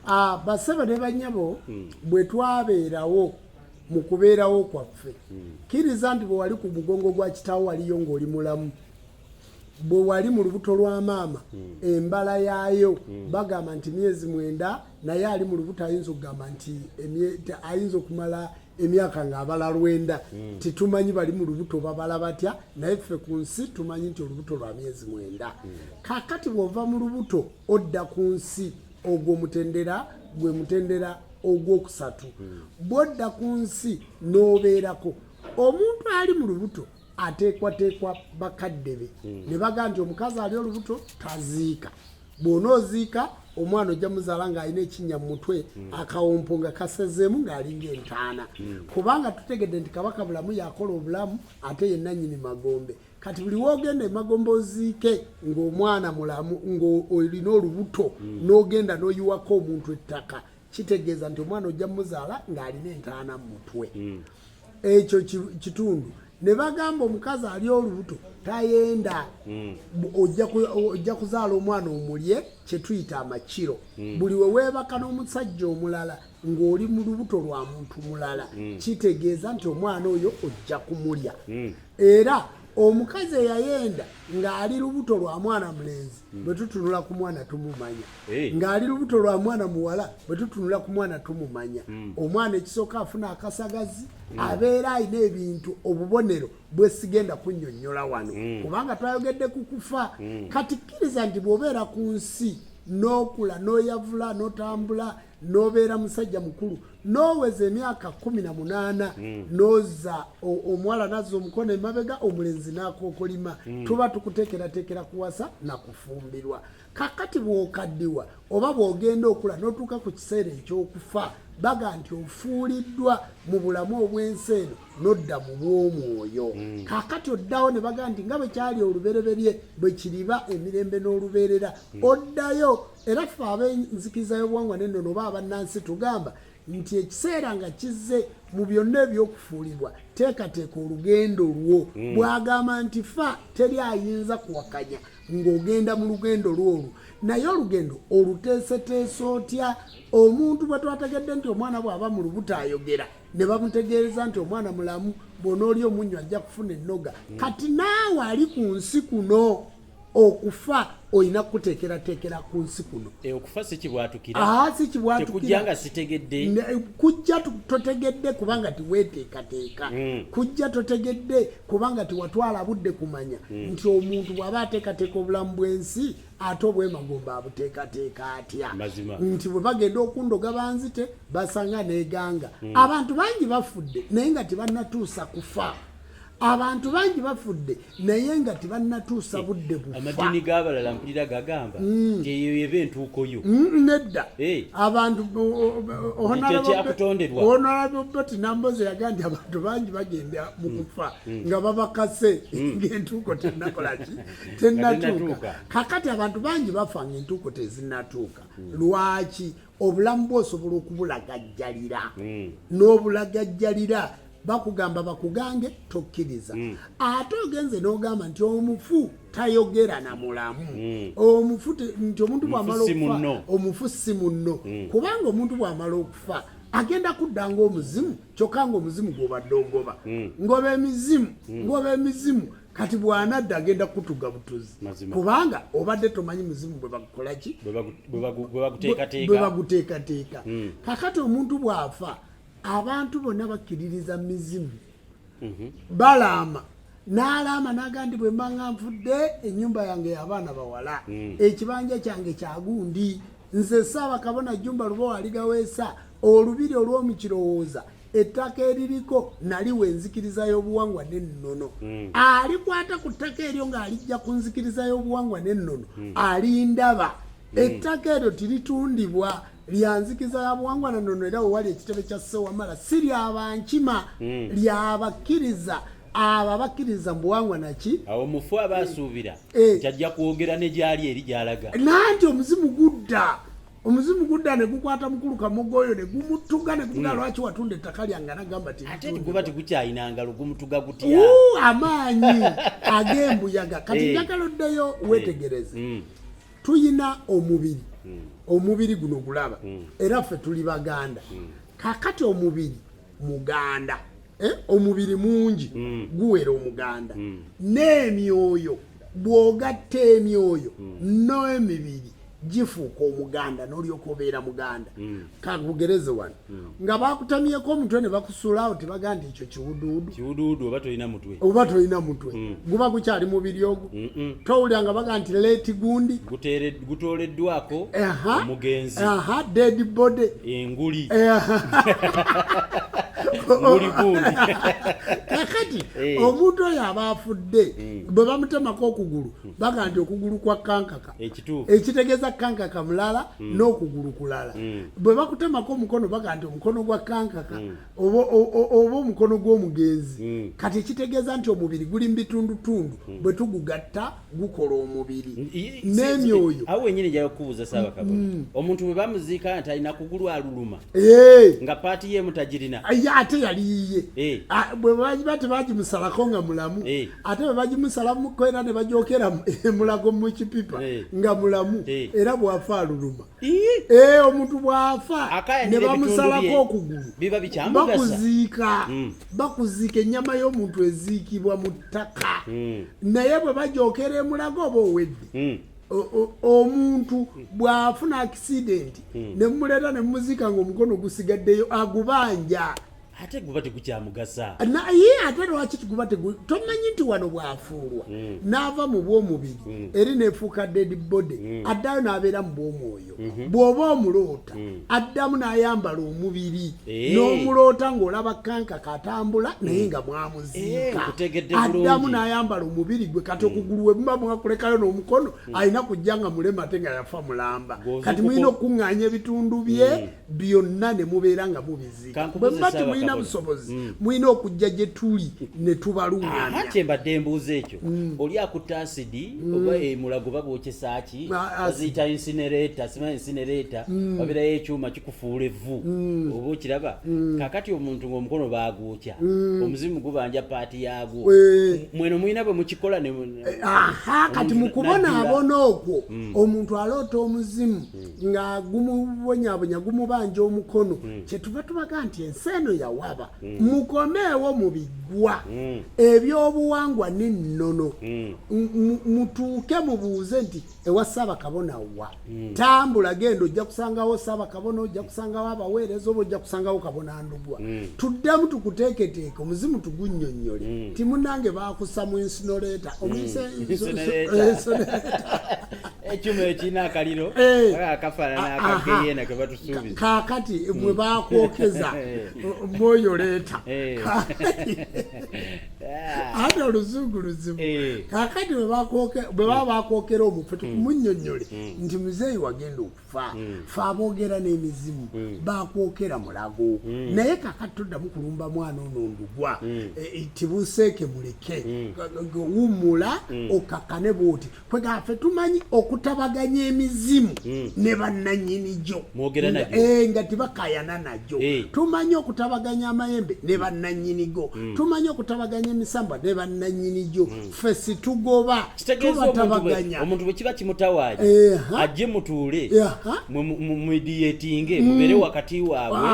Ah, basebo ne banyabo hmm. bwe twabeerawo mu kubeerawo kwaffe hmm. kiriza nti bwe wali ku mugongo gwa kitaawo waliyo ng'oli mulamu bwe wali mu lubuto lwa maama hmm. embala yaayo bagamba nti myezi mwenda naye ali mu lubuto ayinza okugamba nti ayinza okumala emyaka ng'abala lwenda titumanyi bali mu lubuto babala batya naye ffe ku nsi tumanyi nti olubuto lwa myezi mwenda kakati bw'ova mu lubuto odda ku nsi ogwo mutendera gwe mutendera ogwokusatu hmm. bwodda ku nsi n'obeerako omuntu ali mu lubuto ateekwateekwa bakadde be hmm. ne baga nti omukazi ali olubuto taziika bwona oziika omwana ojja muzaala ng'alina ekinnya mu mutwe hmm. akawompo nga kasezeemu ng'alinga entaana kubanga tutegedde nti kabaka bulamu yakola obulamu ate ye nannyini magombe kati buli wogenda emagomba oziike ng'omwana mulamu ng'olina olubuto mm. n'ogenda n'oyiwako omuntu ettaka kitegeeza nti omwana ojja muzaala ng'alina entaana mu mutwe mm. ekyo kitundu ne bagamba omukazi ali olubuto tayenda mm. ojja kuzaala omwana omulye kye tuyita amakiro buli we weebaka n'omusajja omulala ng'oli mu lubuto lwa muntu mulala mm. kitegeeza nti omwana oyo ojja kumulya mm. era omukazi eyayenda ng'ali lubuto lwa mwana mulenzi mm. bwe tutunula ku mwana tumumanya ng'ali lubuto lwa mwana muwala bwe tutunula ku mwana tumumanya omwana ekisooka afuna akasagazi abeera alina ebintu obubonero bwesigenda kunnyonnyola wano kubanga twayogedde ku kufa kati kkiriza nti bw'obeera ku nsi n'okula n'oyavula n'otambula nobeera musajja mukulu noweza emyaka kumi na munaana mm. noza omuwala naza omukono emabega omulenzi nakokolima mm. tuba tukutekeratekera kuwasa nakufumbirwa kakati bwokaddiwa oba bwogenda okula notuuka ku kiseera ekyokufa baga nti ofuuliddwa mu bulamu obwensi eno nodda mu bwomwoyo mm. kakati oddawo ne baga nti nga bwekyali olubereberye bwekiriba emirembe n'olubeerera mm. oddayo era ffe ab'enzikiriza y'obuwangwa n'ennono oba abannansi tugamba nti ekiseera nga kizze mu byonna ebyokufuulibwa teekateeka olugendo lwo mm. bwagamba nti fa teri ayinza kuwakanya ng'ogenda mu lugendo lwolwo naye olugendo oluteeseteese otya omuntu bwe twategedde nti omwana bw'aba mu lubuto ayogera ne bamutegeereza nti omwana mulamu bw'onooli omunnyo ajja kufuna ennoga mm. kati naawe ali ku nsi kuno okufa olina kukuteekerateekera ku nsi kuno eh, okufa sikibwatukiratekujanga sitegedde kujja totegedde kubanga tiweteekateeka hmm. kujja totegedde kubanga tiwatwala budde kumanya hmm. nti omuntu bw'aba ateekateeka obulamu bw'ensi ate obwemagomba abuteekateeka atya nti bwe bagenda okundoga banzite basanga neganga hmm. abantu bangi bafudde naye nga tebannatuusa kufa abantu bangi bafudde naye nga tebannatuusa eh, budde bufaamadiini g'abalala mpulira gagamba mm. nti eyo eba entuukoyo mm, nedda eh. abantu onalabobeti nambozi yaga nti abantu bangi bagenda mu mm. kufa nga babakase ngaentuuko tenakolaki tenatuuka kakati abantu bangi bafa ngaentuuko tezinatuuka lwaki obulamu bwe osobola okubulagajjalira mm. n'obulagajjalira bakugamba bakugange tokkiriza mm. ate ogenze n'ogamba nti omufu tayogera na mulamu mm. omufu nti omuntu bwamala okufa omufu si munno mm. kubanga omuntu bwamala okufa agenda kudda ngaomuzimu kyokka ngaomuzimu gwobadde ogoba mm. ngoba emizimu mm. ngoba emizimu kati bwanadda agenda kutuga butuzi kubanga obadde tomanyi muzimu bwebakukolaki bwebaguteekateeka hmm. kakati omuntu bwafa abantu bonna bakkiririza mizimu mhm. balaama n'alaama nagandi bwe mbanga nfudde ennyumba yange yabaana bawala hmm. ekibanja kyange kyagundi nze saaba kabona jumba lubowa aligaweesa olubiri olw'omukirowooza ettaka eririko nali we nzikiriza y'obuwangwa n'ennono hmm. alikwata ku ttaka eryo ng'alijja ku nzikiriza y'obuwangwa n'ennono hmm. alindaba hmm. ettaka eryo tiritundibwa lya nzikiza ya buwangwa na nnono era wewali ekitebe kya ssewamala si lyaba nkima lyabakkiriza abo abakkiriza mu buwangwa naki awo mufu aba asuubira eh. nti ajja kwogera ne gyali eri gyalaga nanti omuzimu gudda omuzimu gudda ne gukwata mukulu kamogo oyo ne gumutuga ne gumuga hmm. lwaki watunda ettaka lyange anagamba ti ate guba tigukyalina ngalo gumutuga gutya amaanyi ag'embuyaga kati eh. njagala oddeyo eh. wetegereze hmm. tuyina omubiri hmm. omubiri guno gulaba era ffe tuli baganda kakati omubiri muganda eh, omubiri mungi mm. guwera omuganda mm. n'emyoyo bw'ogatta emyoyo mm. n'emibiri gifuuka omuganda n'olyoka obeera muganda mm. kagugereze wano mm. nga bakutamyeko omutwe ne bakusulawo tebaga nti ekyo kiwuduwudu oba tolina mutwe oba tolina mutwe mm. guba gukyali mubiri ogwo towulira nga baga nti leeti gundi guteeredde gutooleddwako omugenzi dead body enguli kakati eh. omuntu oyo aba afudde hmm. bwe bamutemako okugulu hmm. baga nti okugulu kwa kankaka ekitegeeza kankaka mulala hmm. n'okugulu kulala bwe bakutemako omukono baga nti omukono gwa kankaka oba omukono gw'omugenzi hmm. kati ekitegeeza nti omubiri guli mubitundutundu hmm. bwe tugugatta gukola omubiri n'emyoyo awo wenyini njaga kukubuuza saaba kabona hmm. omuntu bwe bamuziika nti alina kugulu aluluma eh. nga paati ye mutagirina ye ate yali yiye eh. ah, bwe bagiba tebagimusalako nga mulamu eh. ate bwe bagimusalamuko era ne bajokera mulago mu kipipa nga mulamu era bwafa aluluma ee eh, omuntu bwafa ne bamusalako okugulu bakuziika mm. bakuziika ennyama y'omuntu eziikibwa mu ttaka mm. naye bwe bajookera emulaga oba owedde mm. omuntu bw'afuna akisidenti ne mumuleeta ne mumuziika ng'omukono gusigaddeyo agubanja ate guba tegukyamugasa naye ate lwaki guba tomanyi nti wano bwafuulwa mm. n'ava mu bw'omubiri mm. eri nefuuka dead body mm. addayo n'abeera mu bw'omwoyo mm-hmm. bw'oba omuloota addamu n'ayambala omubiri eh. n'omuloota ng'olaba kanka katambula naye nga mwamuziika eh, addamu n'ayambala omubiri gwe kati okugulu we muba mwakulekayo n'omukono alina kujja nga mulema ate nga yafa mulamba kati mulina okukuŋŋaanya ebitundu bye byonna ne mubeera nga mubiziika bwe muba temulina busobozi mm. mulina okujja gye tuli ne tubaluŋŋamya kye mbadde mbuuza ekyo mm. oli akutte asidi mm. oba emulago eh, babwokyesa ki baziyita insinereeta sima insinereeta babeerayo ekyuma kikufuula evvu oba okiraba kakati omuntu ng'omukono baagwokya omuzimu gubanja paati yaagwo eh. mweno mulina bwe mukikola eh, kati mu kubonaabona okwo omuntu aloota omuzimu nga gumubonyabonya gumubanja omukono mm. kyetuva tubaga nti ensi eno yawaba mm. mukomeewo mu biggwa mm. ebyobuwangwa n'ennono mm. mutuuke mubuuze nti ewa ssaabakabona wa mm. tambula genda ojja kusangawo ssaabakabona ojja kusangawo abaweereza oba ojja kusangawo kabona ndugwa mm. tuddemu tukuteeketeeke omuzimu tugunnyonnyole mm. timunange baakusa mu insinoleta omuinsinoleta mm. ekyuma ekirina akaliro eh. akafaanana ah, akageyena ke batusuubiza kaakati mwe hmm. bakwokeza eh. mwoyo leeta eh. ah. ate oluzungu luzibu kaakati bwe baba bakwokera omufu hmm. tumunyonyole hmm. nti muzeeyi wagenda okufa fe aboogera n'emizimu bakwokera mulago naye kaakati toddamu kulumba mwana ono ndugwa tibuseeke muleke wummula okakane bwoti kwega fe tumanyi okutabaganya emizimu mm. ne bannanyini gyo eh, nga tibakayana nagyo hey. Eh. tumanyi okutabaganya amayembe ne bannanyini go mm. tumanyi okutabaganya emisambwa ne bannanyini gyo mm. fe situgoba tubatabaganya omuntu bwe kiba kimutawaanya eh, ajje mutuule yeah, mumidiyetinge mm. mubeere wakati waabwe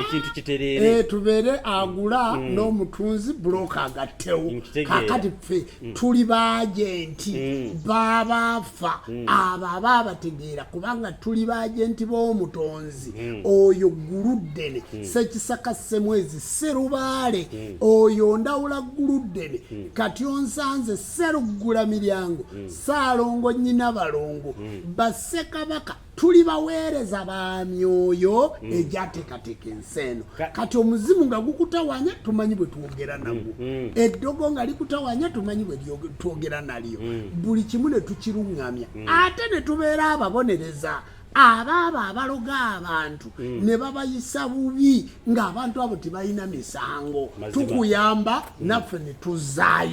ekintu kitereere eh, tubeere agula mm. n'omutunzi buloka agattewo kakati fe mm. tuli baagenti mm. babaafa mm. abo aba abategeera kubanga tuli baagenti b'omutonzi mm. oyo guluddene mm. sekisaka semwezi serubaale mm. oyo ndawula guluddene mm. kati onsanze seruggula miryango mm. saalongo nyina balongo mm. basekabaka tuli baweereza ba myoyo mm. egyateekateeka ensi eno kati omuzimu nga gukutawanya tumanyi bwe twogera mm, nagwo mm. eddogo nga likutawanya tumanyi bwe twogera nalyo buli kimu ne tukiruŋŋamya ate ne tubeera ababonereza abaabo abaloga abantu ne babayisa bubi ng'abantu abo tebalina misango tukuyamba naffe ne tuzzaayo